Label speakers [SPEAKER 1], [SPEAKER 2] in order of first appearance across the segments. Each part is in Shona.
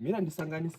[SPEAKER 1] mira ndisanganise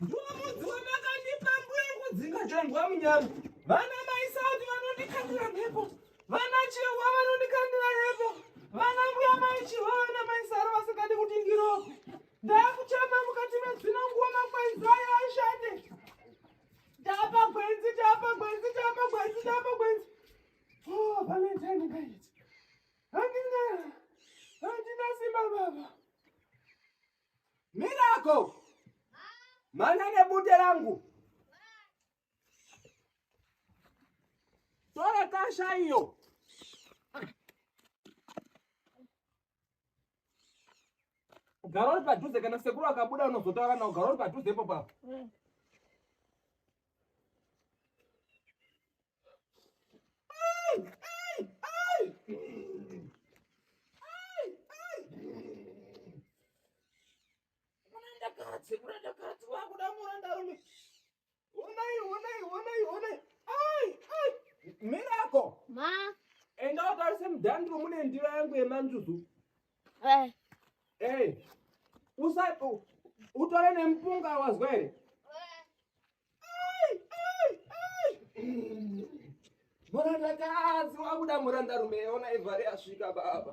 [SPEAKER 1] Ndumudzi wamakandipa mbuya kudzinga chondwa munyama. Vana mai sauti vanondikandira mhepo. Vana chihwa vanondikandira mhepo. Vana mbuya mai chihwa vana mai saro vasingadi kuti ndirope. Ndakuchema mukati medzino nguva makwenzi ayo ashande. Tapa gwenzi, tapa gwenzi, tapa gwenzi, tapa gwenzi. Oh, Valentine guys. Handina, handina simba baba. Mirako, mana nebute rangu. Tora kasha iyo. Garo uri padhuze kana sekuru akabuda unozotaura nawo garo uri padhuze ipo papo. Mm. murandakadzi murandakadzi wakuda murandarume honai honai honai honai ai ai mirako ma enda utarise mudhandiro mune ndiro yangu yemanjuzu eh eh usa utore nemupunga wazwa here Murandakadzi wakuda murandarume, ona Evhari asvika baba.